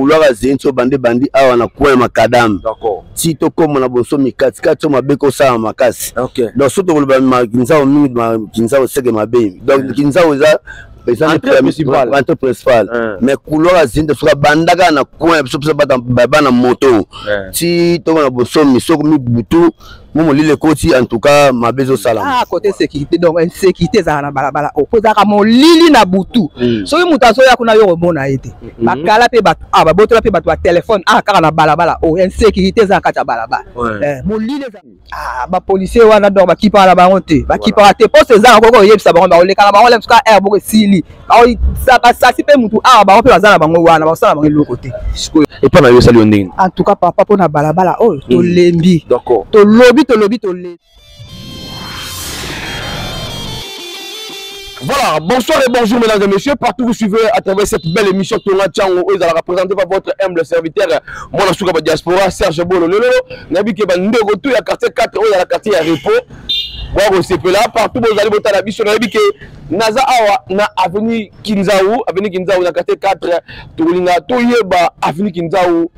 olwaka zenso bande bandi awa na coin ya makadame ti tokoma na bonsomi katikati so mabe kosala makasi donc so tokoloba kinzao mingi kinzao seke mabe donc eh. kinzao eza entrée principale eh. mais couloir ya zinda soki abandaka na coin biso biso bana moto eh. ti tokona bonsomi soko mibutu momo lile ekoti en tout cas mabe ezosalama ah, kote sécurité donc insécurité ezala na balabala oyo oh, mpo ezalaka molili na butu mm. soki moto azoya kuna yo komona ye te mm-hmm. bakala mpe bato ah, babotola mpe bato ya telefone ah kaka na balabala oyo oh, insécurité eza na kati ya balabala eh, molili ah, bapolicier wana donc bakipaka na bango te bakipaka te mposo ezanga koko oyebisa bango bakolekana bango lemsuka aire boko esili basasi mpe motu awa bango mpe baza na bango wana bakosala bango eloko te sikoyo epa na yo osali yo ndenge en tout cas papa mpo na balabala oyo oh, tolembi tolobi tolobi tolembi Voilà, bonsoir et bonjour mesdames et messieurs, partout vous suivez à travers cette belle émission Tonga Tchango, où la représentée par votre humble serviteur, mon asuka ba diaspora, Serge Bolo, lolo, nabi ke ba ndeko tout ya quartier 4, où la quartier ya repos, bwakosepela partout bozali botala biso nayebi ke naza awa na avenue kinzau avenue kinzau na quartier 4 tokolinga toyeba avenue kinzau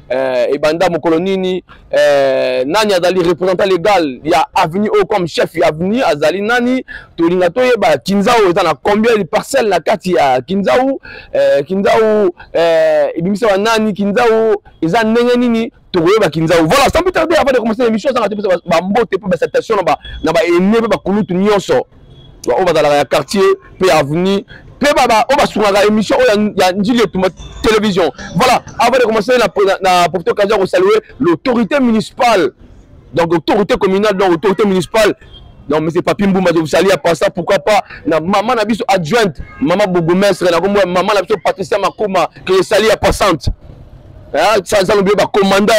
eh, ebanda mokolo nini eh, nani azali représentant légal ya avenue oyo comme chef ya avenue azali nani tolinga toyeba kinzau eza na combien de parcelle na kati ya kinzau eh, kinzau eh, ebimisaka nani kinzau eza ndenge nini tokoyeba kinzau voilà sans plus tarder avant de commencer l'émission ezanga te pesa bambote mpe basatation na baene mpe bakulutu nyonso baoyo bazalaka ya quartier mpe ya avenue mpe oyo basungaka émission oyo ya njili etumba télévision voilà avant de commencer na profite occasion ya kosalue l'autorité municipale donc autorité communale donc autorité municipale donc monsieur papi mbumba je vous salue à part ça pourquoi pas na maman na biso adjointe maman bourgmestre na kombo maman na biso patricia makoma que je salue à passante hein ça ça lobi ba commandant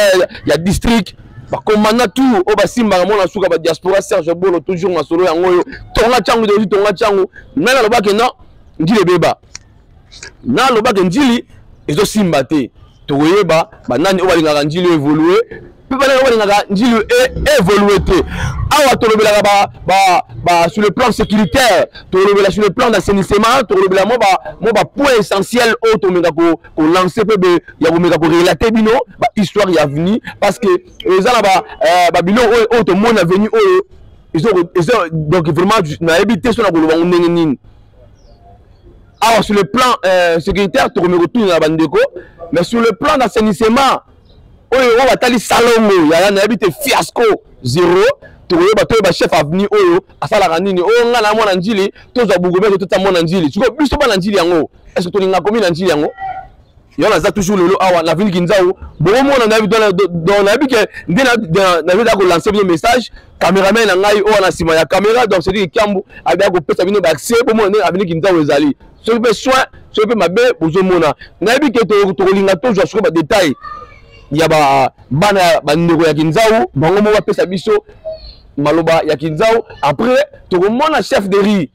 ya district ba commandant tout oyo oh, basimbaka mona suka ba diaspora serge bolo toujours masolo yango oyo tonga changu tozi tonga changu nani alobaki non ndile beba na alobaka njili ezosimba te tokoyeba banani oyo balingaka njili oyo evolue mpe banani oyo balingaka njili e, evolue te awa tolobelaka ba, ba, ba, sur le plan sécuritaire tolobela sur le plan d'assainissement tolobela mo bapoint ba essentiel oyo tomeka kolance ko mpe ya komeka korelate bino bahistoire ya avenir parce que eza na babiloko ba euh, oyo, oyo tomoni avenir oyo donc vraiment nayebi te so na koloba ngo ndenge nini awa sur le plan euh, sécuritaire tokomi kotunela bandeko mais sur le plan d'assainissement oyo oyo batali salongo yaya nayebi te fiasco zero tokoyeba toyeba chef avenue oyo asalaka nini oyo oh, ngai na mwana njili tozwa bugome totata mwana njili sikoyo biso bana njili yango est ce que tolinga komi na njili yango yango naza toujours lelo awa na vini kinzau bokomona nayebi ke nde nazali kolanse bino message cameraman na ngai oyo na nsima ya camera donc sedi kiambu abia kopesa bino baaccès bomona nde avini kinzau ezali soki mpe soin soki mpe mabe bozomona nayebi ke tokolinga tozwa sikoyo badetail ya bana ya bandeko ya kinzau bango moko bapesa biso maloba ya kinzau après tokomona chef de rue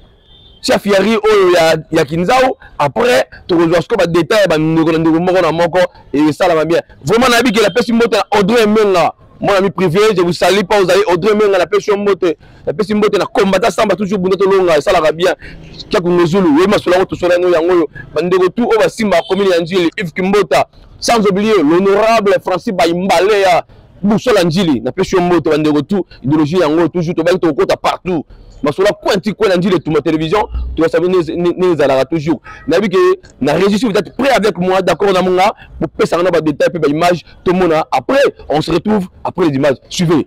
chef ya ri oyo ya, ya kinzau après tokozwa siko badetail ya bandeko na ndeko moko na moko esalama bien vraiment nayebi ke napesi mbote na audrey menga mon ami privé je vous salue pas ozali audrey menga napesi yo mbote napesi mbote na kombata samba toujours bunda tolonga esalaka bien kiakungezulu oyebi masolo yango tosola yango yango oyo bandeko tu oyo basimba commune ya njili ive kimbota sans oublier l'honorable francis baimbalea busola njili napesi yo mbote bandeko tu idéologie yango toujours tobaki tokokota partout masolo coin ti coin na njili etuma télévision toyasabi nini ezalaka toujours nayebi ke na régistre vous êtes prêt avec moi d'accord na monga bopesanga na badétail mpe baimage tomona après on se retrouve après les images suivez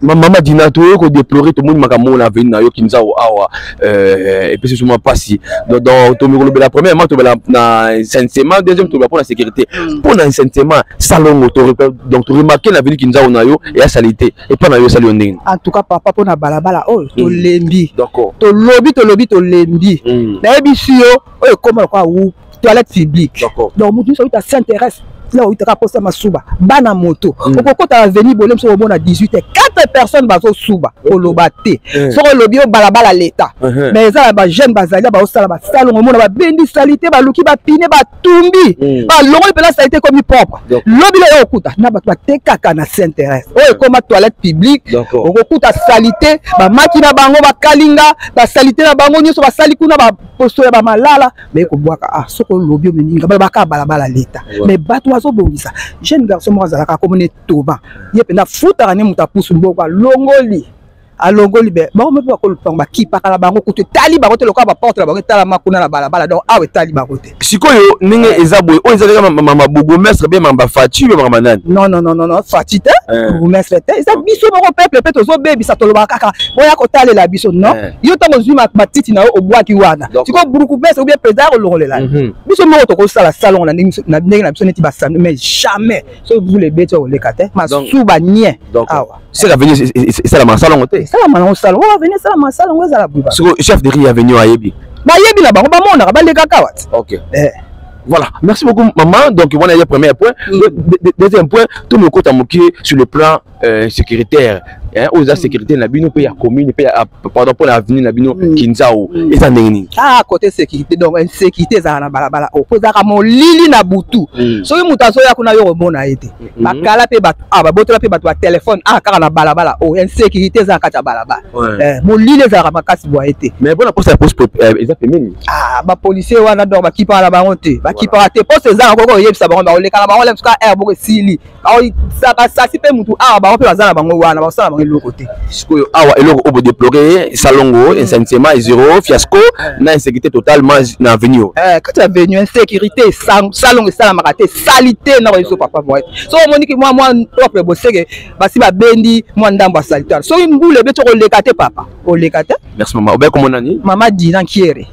mama dina toye ko deplorer tomoni makambo oyo na aveni na yo kinzao awa euh, epesi biso mwa mpasi tomi kolobela premièrement tobela na insensema deuxième tobela mpo na sécurité mm. mpo na insensema salongo donc toremarke na aveni kinzao na yo eya sali te epa na yo esali yo ndenge en tout cas papa mpo na balabala oyo mm. tolembi tolobi tolobi tolembi mm. nayebisi yo oyo ekoma lokola wu toilette publique donc moto nyonso oyuta s'intéresse là oyutaka mposa masuba bana moto mm. okokota aveni bole mosu omona 18 te 4 personnes bazosuba koloba te eh. soki olobi yo balabala leta uh-huh. mais eza na bajeune bazali baosala basalongo omona babendi salite baluki bapine batumbi mm. balongoli mpena salite ekomi propre lobi lelo okokuta na bato batekaka na sainteresse oyo ekoma toilette publique okokuta salite bamaki na bango bakalinga basalite na bango nyonso basali kuna baposo ya bamalala baye kobwaka ah soki olobi omemi nga balobaka ya balabala leta mais bato bazobongisa jeune garçon moko azalaka akomona etoba ye mpenza afutaka ne moto apusu mboko alongoli alongoli be bango mpe bakolupango bakipaka na bango kutu etali bango te lokola baporte na bango etalama kuna na balabala donc awa etali bango te sikoyo ndenge eh. eza boye oyo ezalaka mama bourgmestre be mama faci be mama nani non non non non faci te eh. bourgmestre te eza biso moko peuple mpe tozobebisa tolobaka kaka boya kotalela biso non eh. yo ntango ozwi matiti na yo obwaki wana sikoyo burukubese obia président ya kolongolela mhm. biso moko tokosala salongo na ndenge na biso neti basano mais jamais soki vous le beti okoleka te masuba nie awa seke aveni esalamaka salongo te esalamaka nango salongo oyo aveni esalamaka salongo ezala buba sikoyo chef de ri aveni oyo ayebi bayebi na bango bamonaka balekaka wati okay. eh. Voilà, merci beaucoup maman. Donc, on a le premier point. Mm. Le, le, le deuxième point, tout le côté sur le plan euh, sécuritaire hein, oyo eza mm. sécurité na bino mpe ya commune mpe ah, pardon mpo na avenue na bino mm. kinzao mm. eza ndenge nini ah côté sécurité donc insécurité ezala na balabala oyo oh, mpo ezalaka molili na butu soki moto azoya kuna yo komona ye te mm-hmm. bakala mpe bato ah babotola mpe bato ya telefone ah kaka na balabala oyo oh, insécurité eza na kati ya balabala eh, molili ezalaka makasi boye te mais mpona posa ya poste euh, eza pembeni ah bapolicier wana donc bakipaka na bango te bakipaka te poste ezanga koko oyebisa bango bakolekaka bango lemsuka air eh, boko esili basasi mpe motu awa bango mpe baza na bango wana bakosala bango eloko te sikoyo awa eloko oyo bodeplore salongo hmm. insensema zero fiasco hmm. na insécurité totalement na avenue oyo eh, kati ya avenue insécurité salongo esalamaka te salite na bayeso papa boye soki omoniki mwa mwa propre boseke basi babendi mwa ndambo ya salite soki mbula ebeti okoleka te papa oleka te merci mama obe komona nini mama dina nkiere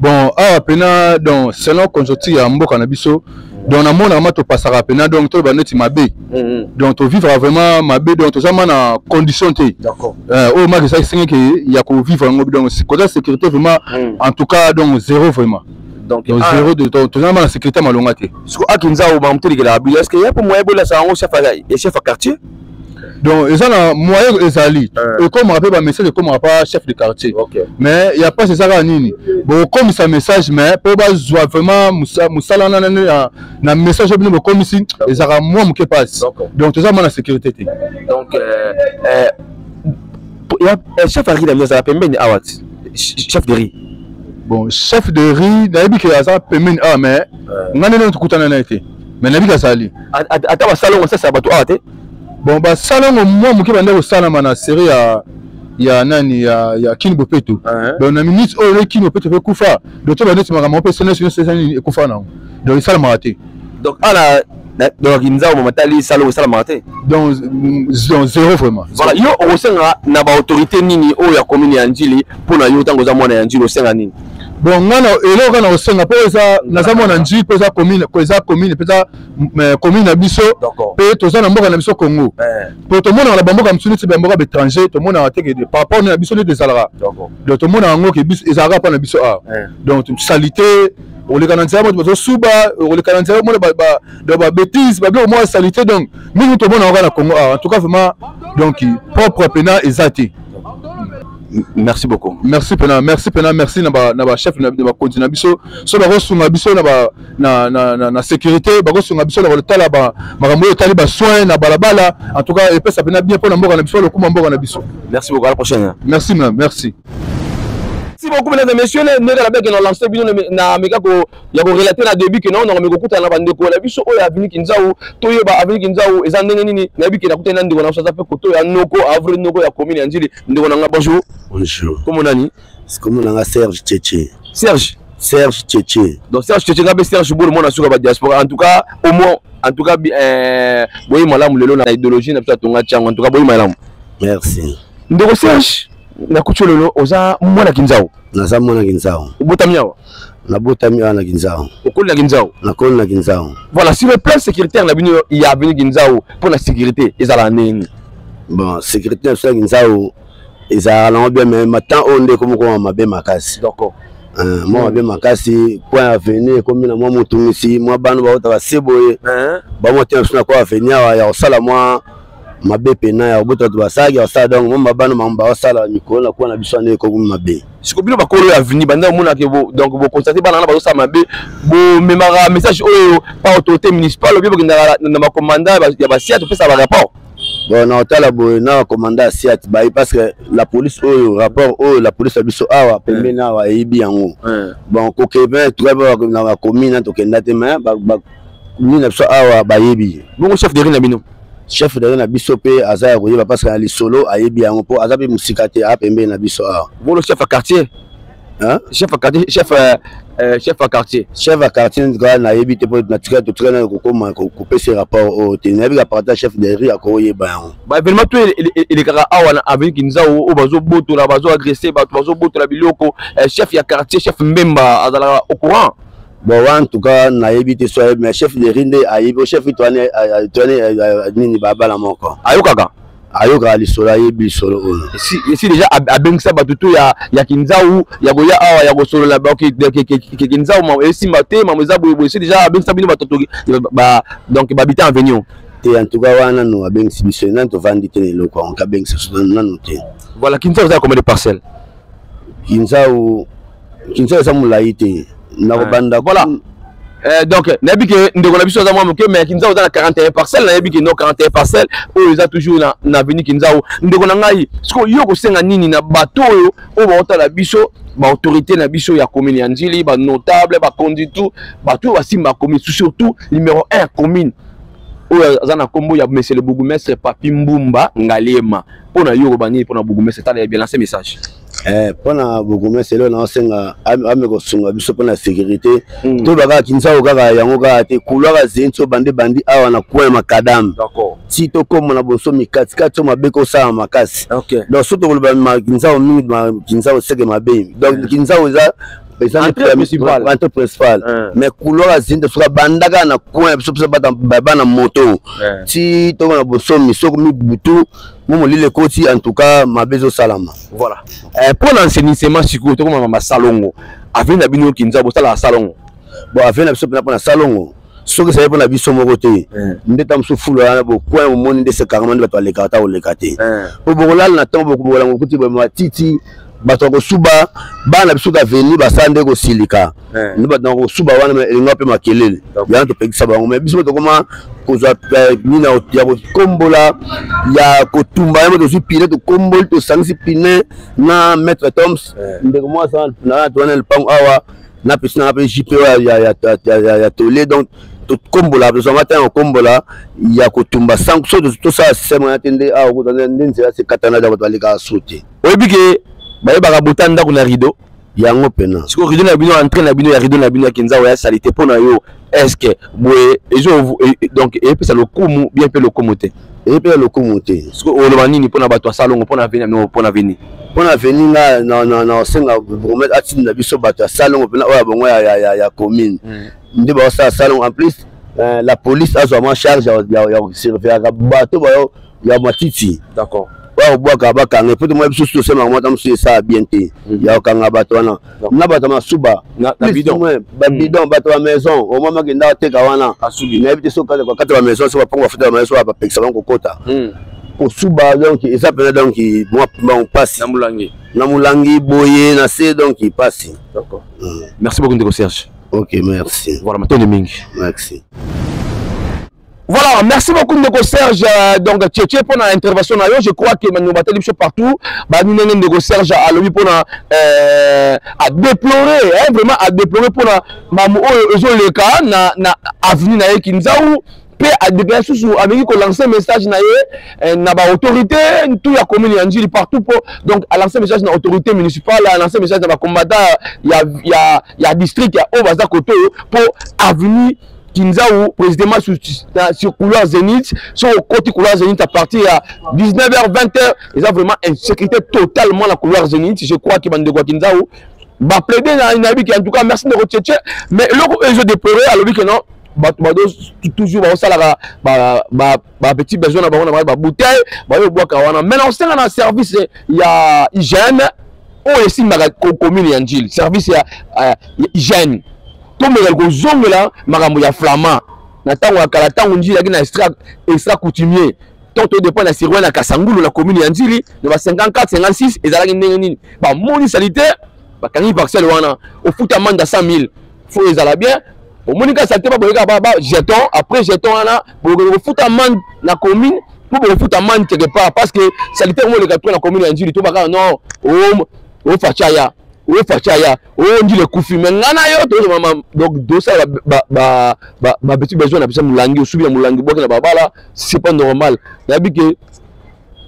bon awa pena donc selon conjoncture ya mboka na biso donc namonaka ma topasaka pena donc toloba neti mabe mm-hmm. donc tovivaka vraiment mabe donc toza ma na condition te euh, oyo maki ezalaki sengeke ya kovivre yango donc koza sécurité vraiment mm. en tout cas donc zéro vraiment donc ah. zéro de temps toza ma na sécurité malonga te siko akinzao bamutelikela abilo est ce que ya mpo moyen bolasa yango chef ya quartier donc eza na moyen ezali eh. ekomaka mpe bamessage ekomaka pa chef de quartier mais ya mpasi eza kaka nini bokomisa message mais mpo bazwa vraiment mosala na message oyo bino bokomisi ezalaka mwa moke mpasi donc toza mwa na sécurité te donc euh, euh, euh, chef ya riz na bino azala pembeni awa ti chef de riz bon chef de riz nayebi ke aza pembeni awa mais ngai nde nokutana na ye te mais nayebi kazali ata basalongo sasa bato awa te bon basalongo mwa moke banda kosalama na serie ya ya nani ya, ya kini bopeto uh -huh. donc na minute oyo eleki kini bopeto mpe kufa donc to bandeti makambo mpe senesi nyonso eza nini ekufa nango donc esalamaka te donc ala donc nzambo mama tali salongo esalamaka te donc zero vraiment voilà yo okosenga na baautorité nini oyo ya commune ya njili mpo na yo ntango oza mwana ya njili osenga nini bon nga na eloko kaka na kosenga mpo eza naza mwana nji mpo eza commune ko eza commune mpenza eh, commune na biso D'accord. mpe toza na mboka na biso congo Eh, mpo tomonaka na bamboka mosusu neti bamboka baétranger tomonaka te ke par rapport na biso neti ezalaka d'accord. donc tomonaka yango ke biso ezalaka mpo na biso awa Eh, donc salite oleka na nzela moto bazosuba oleka na nzela omona ba- ba- donc babétise babiloko moko ya salite donc mingi tomonaka kaka na congo awa en tout cas vraiment donc propre mpena eza te merci beaucoup merci pena merci pena merci na ba na ba chef na ba konti na biso so ba kosunga biso na ba na na na, na sécurité ba kosunga biso na ba tala ba makambo yo tali ba soins na balabala en tout cas epesa pena bien pona mboka na biso lokuma mboka na biso merci beaucoup à la prochaine hein. merci madame merci merci beaucoup mesdames et messieurs ndenge na beke na lance bino na meka ko ya ko relater na début que na na meko kutana na bandeko na biso oyo avini kinzau toyeba avini kinzau eza ndenge nini na biki na kutana na ndeko na biso aza pe koto ya noko avril noko ya commune ya njili ndeko na nga bonjour bonjour kombo nani kombo na nga serge cheche serge serge cheche donc serge cheche nga mpe serge bolo mwana suka ba diaspora en tout cas au moins en tout cas euh, boyi malamu lelo na idéologie na biso atonga tiango en tout cas boyi malamu merci ndeko serge nakuti yo lelo oza mwana kinzau naza mwana kinzau obotami awa nabotami awa na kinzao okoli na kinzao nakoli na kinzao voilà sur le plan sécuritaire na bino ya aveni kinzao mpo na sécurité ezalaka ndenge nini bon sécurité na biso ya kinzao ezalaka nango bien mais matan oyo nde ekomi koma mabe makasi d'accord Euh, mwa mabe makasi mpo ya aveni ekomi na mwa motungisi mwa bana baotaka se boye bamwa te na biso na kwa aveni awa ya kosala mwa mabe pena ya kobota bato basalaki basala donc mo mabano bango baosala mikolo na kuwa na biso ane ekomi mabe siko bino bakolo ya aveni banda omonake donc boconstate bana wana bazosala mabe bomemaka message oyo pa autorité municipale obie bokendaka na bacommanda ya basia topesa barapport bon na otala boye na bacommanda ya siat bayi parce que la police oyo rapport oyo la police ya biso awa pembeni awa eyibi yango bon kokebe tokaba na bacommune tokenda te mais Nini na biso awa bayebi. Bongo chef de rue na bino? Chef de rue na biso pe aza ya koyeba parce que na lisolo ayebi yango po aza pe musika te a pembeni na biso awa. Bolo chef ya quartier. Hein? Chef ya quartier, chef euh, euh chef ya quartier. Chef ya quartier nzika na yebi te po na tika to tika na ko koma ko pese rapport o te. Na yebi ka parta chef de rue ako yeba yango. Ba événement tout il kaka awa na avenue Kinzao o bazo botola bazo agresser bato bazo botola biloko euh, chef ya quartier chef Mbemba azala au courant. bon wa en tout cas nayebi te soye mais chef de rinde ayebi o chef toane toane nini babala moko ayokaka ayokaka lisolo ayebi lisolo oyo esi deja abengisa bato to ya, ya kinzau ya koya awa ya kosolola kinzau esimba te mamo eza boyeboye esi deja abengisa bino bato donc babita avenio te en tout cas wana nanu abengisi biso nani tovandi te na eloko yango kabengisa biso nanu te voilà kinzau eza ya combien de parcelle kinzau kinsa eza molai te nakobanda eh, voilà Eh, donc nayebi ke ndeko na biso aza mwa moke mais kinzau oza na 41 parcelle nayebi ke no 41 parcelle oyo eza toujours na, na aveni kinzau ndeko na ngai sikoyo yo kosenga nini na bato oyo oyo baotala biso baautorité na biso ya commune ya nzili banotable bakonzi tout bato oyo basimba ya commune surtout numéro 1 commune oyo aza na nkombo ya monsieur le bourgmestre papi mbumba ngaliema mpo na yo oloba nini mpo na bourgmestre tala ya bien lance message Eh, mpo na bourgmestre leo naosenga ame kosunga biso mpo na sécurité mm. toyeba kaka kinsao kaka yango kaka te kulwaka zeni so bande bandi awa na coin makadame ti tokóma na bonsomi katikati so mabe kosala makasi okay. donc so tokoloba kinsao mingi kinsao seke mabe donc mm. kinsao eza entrée principale eh. mais couloir azini te soki abandaka na coin ya biso biso bana moto ti tokona bosomi soki mibutu momo lile ekoti en tout cas mabe ezosalama voilà eh, mpo na enseignisement sikoyo tokomama basalongo avenir na bino kinza bosalaka salongo bon avenir na biso mpena mpo na salongo soki ezali mpo na biso moko te eh. nde ta mosusu fulu wana bokwai omoni nde sekarama nde bato balekaka ta koleka te eh. mpo bokolala na ntango bokobokola mokuti matiti bato ya kosuba bana na biso kaveni basala nde kosilika eh. nde bato na kosuba wana elinga mpe makelele yana topekisa bango mai biso tokoma kozwa eh, nini ya kokombola ya kotumba yango tozwi pine tokomboli tosangisi pine na maître toms eh. ndeko mwasi na towana lipango awa na pesi nanga mpe jpo ya tole donc tokombola tozwanga ata ya kokombola ya kotumba sanso tosala systeme wana te nde awa kozwa nde nzela sekatana ya bato balekaka so te oyebi ke bayebaka bota ndako na rideau yango pena sikoyo rideau na bino entre na bino ya rideau na bino ya kinza oya salite mpo na yo estce boye ezo e, e, donc epesa lokumu bien mpe lokumu te epesa lokumu te sikoyo oloba nini mpo na bato ya salongo mpo na veni yango mpo na veni mpo na veni nga nasenga gourmet atinda biso bato ya salongo mpena oyo ya bongo ya commune hmm. nde baosala salongo en plus euh, la police azwama charge ya surveillaka bato bayo ya matiti d'accord bakobwaka bakanga po tomona biso tosemaka mwata mosusu esala bien te mhm. ya kokanga bato wana na bato ya masuba babidon mhm. bato ya maison omama akenda ateka wana nayebi te soki kati ya bamaison so bapango bafuta bamaison oyo bapekisa bango kokota mhm. kosuba donc eza mpenza donc mwa bango mpasi na molangi boye na se donc mpasi merci beaucoup ndeko serge ok merci voilà matondi mingi merci Voilà, merci beaucoup Ndeko Serge. Euh, donc, Tchétché, pour l'intervention, je crois que nous battons les partout. Bah, nous n'avons Ndeko Serge à lui pour euh, à déplorer, hein, vraiment à déplorer pour la maman Ozo oh, Leka, na, na avenue na Kinzaou. mpe adepaya susu ameki kolancer message na ye eh, na baautorité tout ya commune ya njili partout mpo donc alancer message na autorité municipale alancer message na bacombattant ya, ya, ya district ya oyo baza kote oyo mpo avenue Kinzaou, précisément sur, sur couloir Zénith, sur le côté couloir Zénith à partir à 19h, 20h, ils ont vraiment une sécurité totalement la couloir Zénith. Je crois que Bandegua Kinzaou, bah plaider dans une habitude, en tout cas, merci de retirer, mais l'autre, ils ont déploré, alors que non, bato bado toujours baosalaka bapetit besoin na bango na bango babouteille bayobwaka wana mai naosenga na service ya hygiène oyo esimbaka commune ya njili service ya hygiène tomekaki kozongela makambo ya flamand na ntango ya kala ntango njili yaki na extra, extra coutumier to todepend na sirwani ya kasangulu na commune ya nzili na ba 54 56 ezalaki ndenge nini bamoni salite bakangi parcelle wana ofuta amande ya 100 000 fo ezala bien omoni kaka salite baboyeka ba jeton après jeton wana bokoki kofuta amande na commune mpo bokofuta amande quelque part parce que salite yango oleka to na commune ya nzili to bakaka non ofacaya ofacaya oyo njila ekufi me ngai na yo tozomama donc tosala babeti besoin na biso molangi osubi na molangi obwaki na babala c'est pas normal nayebi ke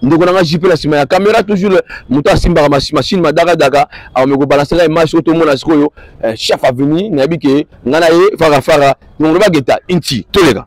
ndeko na ngai jipe na nsima ya kamera toujours moto asimbaka machine madakadaka akomi kobalanse ngai image oyo tomona sikoyo eh, chef aveni nayebi ke ngai na ye farafara nongolobageta inti toleka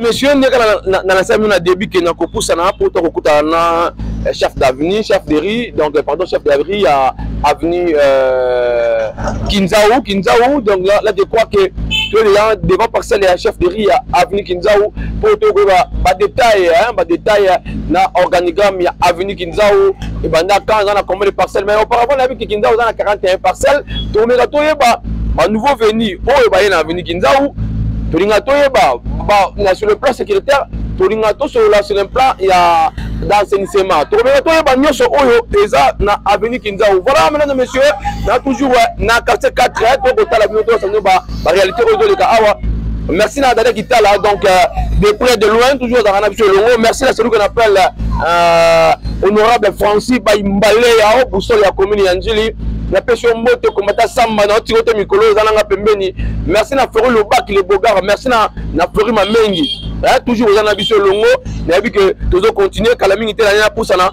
monsieur ndeka nalasami na début ke na kopusana apoto kokutana na eh, chef d'avenue chef de rue donc eh, pardon chef de rue ya avenue euh, kinzau kinzau donc là, là je crois que to deja devant parcelle ya chef de rue ya avenue kinzau mpo tokoyeba badetail badetail na organigramme ya avenue kinzau ebanda quand aza na combien de parcelle mais auparavant nayebi ke kinzau aza na 41 parcelle tokomeka toyeba banouveau venu oyo baye na aveni kinzau tolinga toyeba na sur le plan sécuritaire tolinga tosolola sur le plan ya d'assainissement tokomeka toyeba nyonso oyo eza na aveni kinzau voilà mesdames et messieurs na toujours na quartier 4 tokotala bino tosanio ba ba réalité oyo ezoleka awa merci na dada kitala donc euh, de près de loin toujours azalaka na biso elongo merci na celui qu'on appelle euh, honorable francis baimbale ya o boussole ya commune ya njili napesi yo mbote komata samba na otiko te mikolo oyo eza nanga pembeni merci na flori lobaki le bogara merci na, na flori mamengi eh, toujours oza na biso elongo nayebi ke tozo continue kala mingi te na nini napusana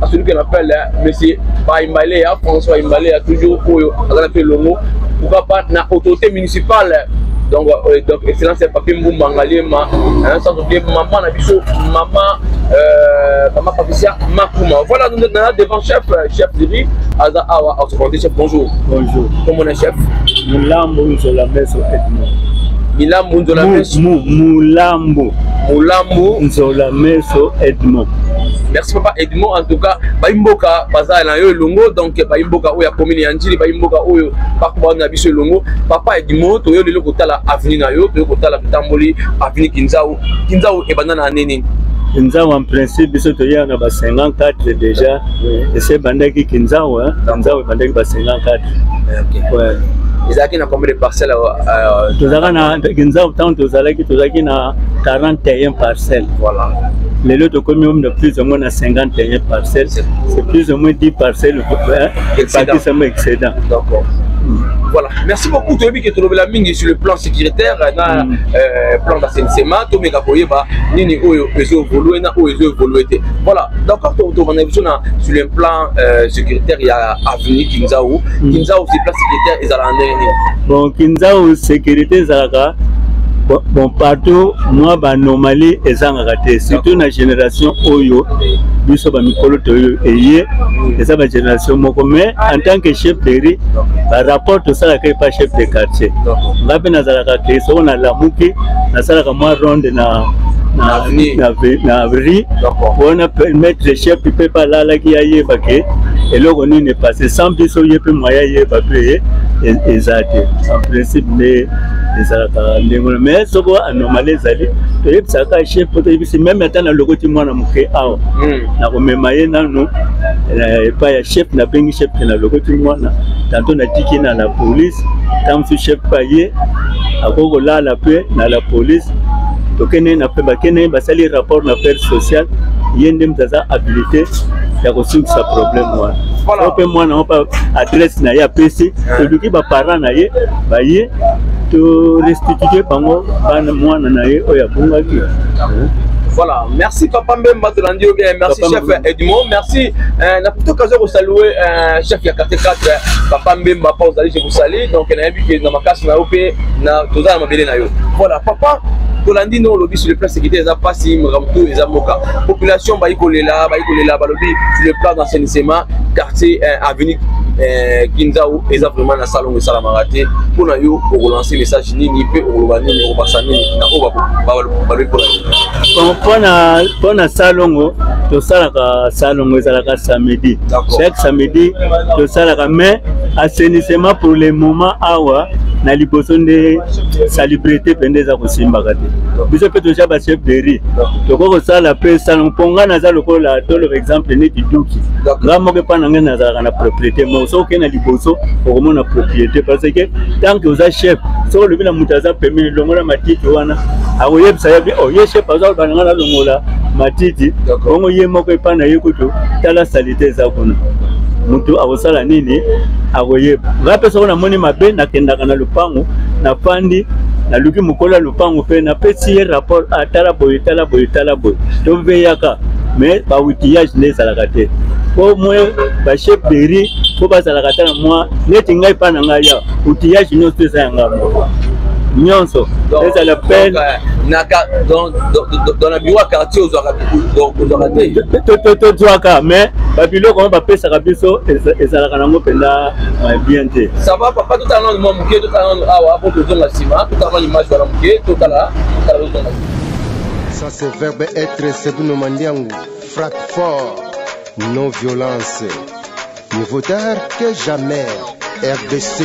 à celui qu'on appelle hein, monsieur Baimbalea, hein, François Baimbalea, toujours Oyo, Azanape Longo, pourquoi pas, na autorité municipale. Hein. Donc, euh, donc excellence ya papi mbumba ngaliema hein, sans oublier maman na biso maman euh, maman patricia makuma voilà nous na devant chef euh, chef diri aza awa au secondaire chef bonjour bonjour comment on est chef mulambo nzola meso edmond milambo nzola meso mulambo mulambo nzola meso edmond merci papa edmond en tout cas baimboka baza na yo elongo donc baimboka oyo ya commune ya njili baimboka oyo bakoba na biso elongo papa edmond toyo lelo kotala avenue na yo toyo kotala totamboli avenue kinzau kinzau ebanda na ane nini kinzau en principe biso toyaka na ba 54 déjà ese ebandaki kinzau kinzau ebandaki ba 54 ouais. ezalaki na combien de parcelle euh, tozalaka na kinzau ntango tozalaki tozalaki na 41 parcelle voilà lelo tokomi omna plus ou moins na 51 parcelle c'est plus ou moins 10 parcelle ebakisama excédent Voilà. Merci beaucoup. Toyebi que tolobela mingi sur le plan sécuritaire na mm. euh, plan d'assainissement to meka koyeba nini oyo ezo évoluer na oyo ezo évoluer te. Voilà. D'accord to to bana biso na sur le plan euh, sécuritaire ya avenue Kinzao. Mm. Kinzao c'est plan sécuritaire ezala ndenge bon kinzau securite ezalaka bon partout mwa banormali ezangaka te surtout na génération oyo biso bamikolo toyo eye eza bagénération moko mais en tant que chef de ri barapport tosalaka epa chef de quartier nga mpe nazalaka ke soko nalamuki nasalaka mwa ronde na na ri wana permettre chef mpe mpe alalaki ayeba ke eloko nini epase sans biso ye mpe mwaya yeba mpe e-, eza te en principe nde ezalaka ndenge wana mais soko anormali ezali toyebisaka chef po toyebisi meme ata na lokoti mwana moke awa hmm. nakomema ye nano eh, epai ya chef nabengi chef te na lokoti mwana tanto natiki na la police ntango mosusu chef pa ye akoki kolala mpe na la police tokende na mpe bakende basali rapport na affaire sociale ye nde moto aza habilité ya kosukisa problème wana voilà. ope mwana ope adresse na ye apesi toluki baparent na ye baye to restitue bango bana mwana na ye oyo abungaki Voilà, merci Papa Mbemba de l'Andio, eh, merci Papa chef Edmond, merci. Euh, n'a plutôt qu'à vous saluer, euh, chef Yakate 4, euh, Papa Mbemba, pas je vous salue. Donc, il y a un but qui est dans ma casse, na OP, na tout ça, ma belle na yo. Voilà, Papa, Tolandino, l'obis sur le plan sécurité, ils ont passé, ils ont tout, ils ont population bayi kolela bayi kolela balobi sur le plan d'assainissement quartier euh, avenue euh, kinzau eza vraiment na salongo esalamaka te mpo na yo okolanse message nini mpe okoloba nini okobasa nini na oyo balobi mpo na yo mpo na salongo tosalaka salongo ezalaka samedi chaque samedi tosalaka mais assainissement pour le moment awa na liboso nde salubrité mpe nde eza kosimbaka te biso mpe toza ba chef de ri tokoki kosala mpe esango mpo ngai naza lokola toloba exemple neti duki ngai moko epai na ngai nazalaka na propriété moko soki okei na liboso okomona propriété parce que tant que oza chef soki olobi na moto aza pembeni longola matiti wana akoyebisa ye o oh, ye chef aza koloba na ngai nalongola matiti bongo ye moko epai na ye kutu tala salite eza kuna motu akosala nini akoyeba ngai mpe soki namoni mabe nakendaka na lopango nafandi naluki mokolo ya lopango mpe napesi ye rapport ah, tala boye tala boye tala boye toveyaka mais baoutillage nde ezalaka te po mwe bachef de ri mpo bazalaka ata na mwa neti ngai mpa na ngai ya outillage nyonso eza ya ngai moko nyonso ezala pene dans la biro ya quartier ozwaka te tozwaka mais babiloko yango bapesaka biso ezalaka nango mpenza mais bien te ça va papa totala nano mwa moke totala nano awa po tozonga nsima totala nano image wana moke totala totala tozonga ça c'est verbe être sebuno mandiangu frappe fort non violence mieux vaut tard que jamais rdc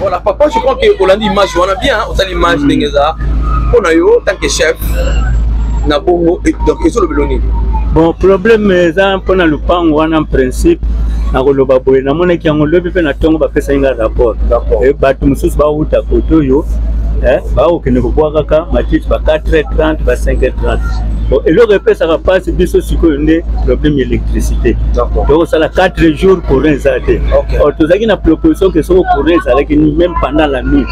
Voilà, papa, je crois que Hollande image wana bien, hein, osali image mm. ndenge eza. Pona yo tant que chef na bongo et donc ezo lobelo nini? Bon, problème eza pona lupango wana en principe nakoloba boye namonaki yango lobi mpe na ntongo bapesaki ngai rapport eh, bato mosusu bawuta kote oyo eh, bakokende kobwakaka matiti ba 4 30 ba 5 30 bon eloko epesaka mpasi biso sikoyo nde problème ya électricité tokosala 4 jours courant eza te oh, tozalaki na proposition ke soko courant ezalaki ni même pendant la nuit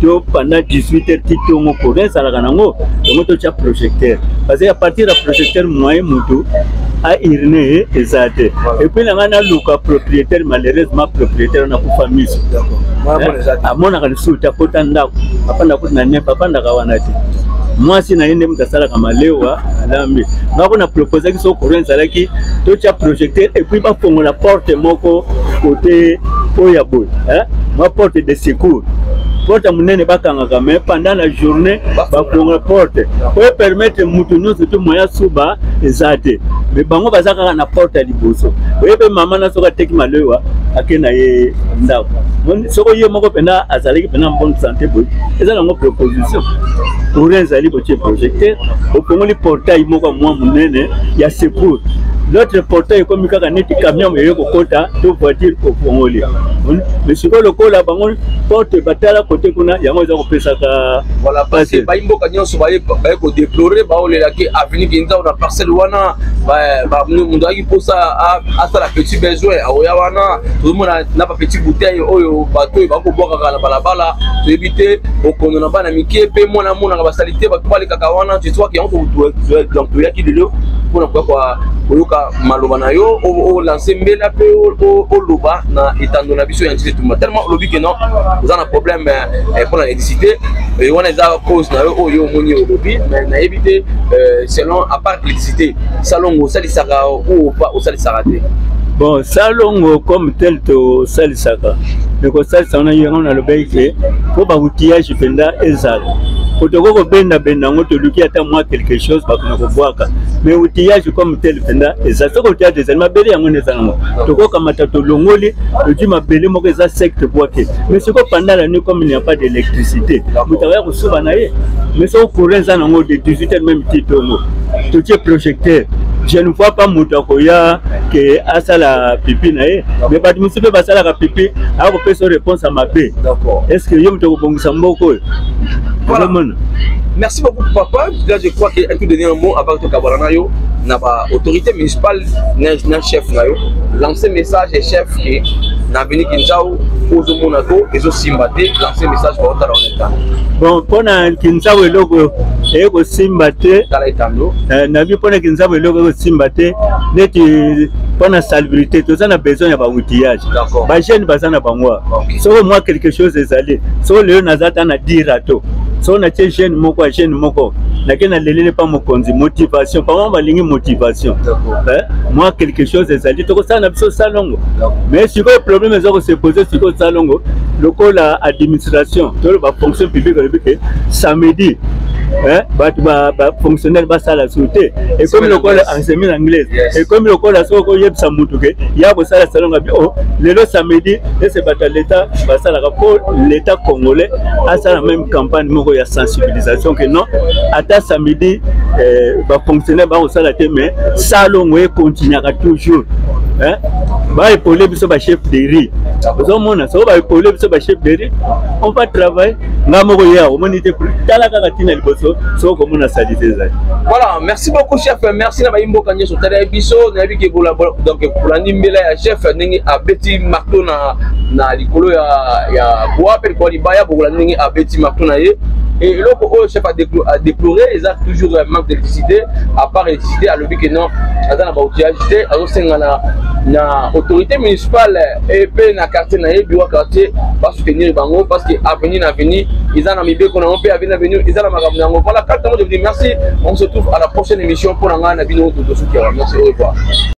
to pendant 18 heures ti tongo courant ezalaka nango yango totya projecteur parce que à partir ya projecteur moyen motu airine ye eza te epuis na ngai naluka propriétaire malheureusement propriétaire wana akufa miso amonaka lisusu te akota ndako apanda kutu na nepe apandaka wana te mwasi na ye nde moto asalaka malewa alambi nga kuna proposaki so courant ezalaki totya projecteur epuis bafongola porte moko kote oyo ya boye mwa porte de secours porte ya monene bakangaka mais pendant la journée bafongola porte po epermettre moto nyonso to moya suba eza te mais bango baza kaka na porte ya liboso oye mpe mama na soki ateki malewa ake na ye ndako soko ye moko mpena azalaki mpena bonne santé boye eza nango proposition courant ezali botie projecteur opongoli portail moko mwa monene ya secours notre portail ekomi kaka neti camion eye kokota to voiture kopongoli me sikoyo lokola bango porte batala kote kuna yango eza kopesaka pasi bai mboka nyonso baye kodeplore baolelaki avenue kinzao na parcelle wana moto kosala asala petit besoin akoya wana tozomona na bapetit bouteille oyo bato oyo bakobwakaka na balabala toyebi te okondo na bana mike mpe mwana amonaka basali te bato balekaka wana jetwaki yango toyaki lelo mpona koya koyoka maloba na yo olanse mbela mpe oloba na etando na biso ya nzete tumba tellement olobi ke non oza na problème eh, mpona électricité eh, wana eza cause na yo oyo omoni olobi mais nayebi te eh, selon apart électricité salongo osalisaka ou pas osalisaka te bon salongo comme tel tosalisaka me kosalisa wana yango nalobaki ke mpo baoutillage mpenza ezala po tokoki kobendabenda yango toluki ata mwa quelque chose bakona kobwaka mais outillage comme tel mpenza eza soki outillage ezali mabele yango nde eza nango tokokamata tolongoli tozwi mabele moko eza secte bwake mais sikoyo pandala ni comme il n'y a pas d'électricité moto akoya soba na ye mais soko courant eza nango de 18 heures meme ti tongo totie projecteur je ne vois pas moto akoya ke asala pipi na ye me bato mosusu mpe basalaka pipi akopesa réponse ya mabe est ce que yo moto okobongisa mboko oyo ozomona merci beaucoup papa là je crois que tout donner un mot avant tokabwana na yo na ba autorité municipale na chef na yo lancer message chef ke na bini kinzao ozo mona ko ezo simba te lancer message ba otala on etando bon pona kinzabo eloko eye kosimba te tala etando eh, na bi pona kinzabo eloko eye kosimba te neti pona salubrité toza na besoin ya ba outillage ba jeune baza na bango okay. soko mwa quelque chose ezali soko lelo naza ta na dirato soko natie jeune moko ya jeune moko nake nalelele mpa mokonzi motivation pama balingi motivation eh? mwa quelque chose ezali tokosala na biso salongo mais sikoyo problème eza kose pose sikoyo salongo lokola administration toloba fonction publique olobi ke samedi bato bafonctionnaire basala sur te ekomi lokola ensemi na anglaise ekomi lokola soki okoyebisa motu ke ya kosala salonga bi o lelo samedi ese bato ya leta basalaka mpo leta congolais asala meme campagne moko ya sensibilisation ke non ata samedi bafonctionnaire bakosala te mais salongo ekontinuaka toujours hein ba épauler biso ba chef de riz ozo mona so ba épauler biso ba chef de riz on va travailler nga moko ye akomoni te tala kaka ntina liboso soki okomona salite ezali voilà merci beaucoup chef merci na bayimboka nyonso otaleli biso nayebi ke donc kolandi mbela ya chef ndenge abeti marto na na likolo ya ya boa mpe likolo libaya bokolandi ndenge abeti marto na ye eloko oyo chef adeplore eza toujours euh, manque d'électricité à part publicité alobi que non aza na ba outillage te azosenga na na autorité municipale et mpe na quartier na ye biwa quartier basoutenir bango parce que avenir na avenir eza na mibeko na yango mpe avenir na avenir eza na makambo na yango voilà kaka yango je vous dis merci on se trouve à la prochaine émission mpo na ngai na bino totosuki yango merci au revoir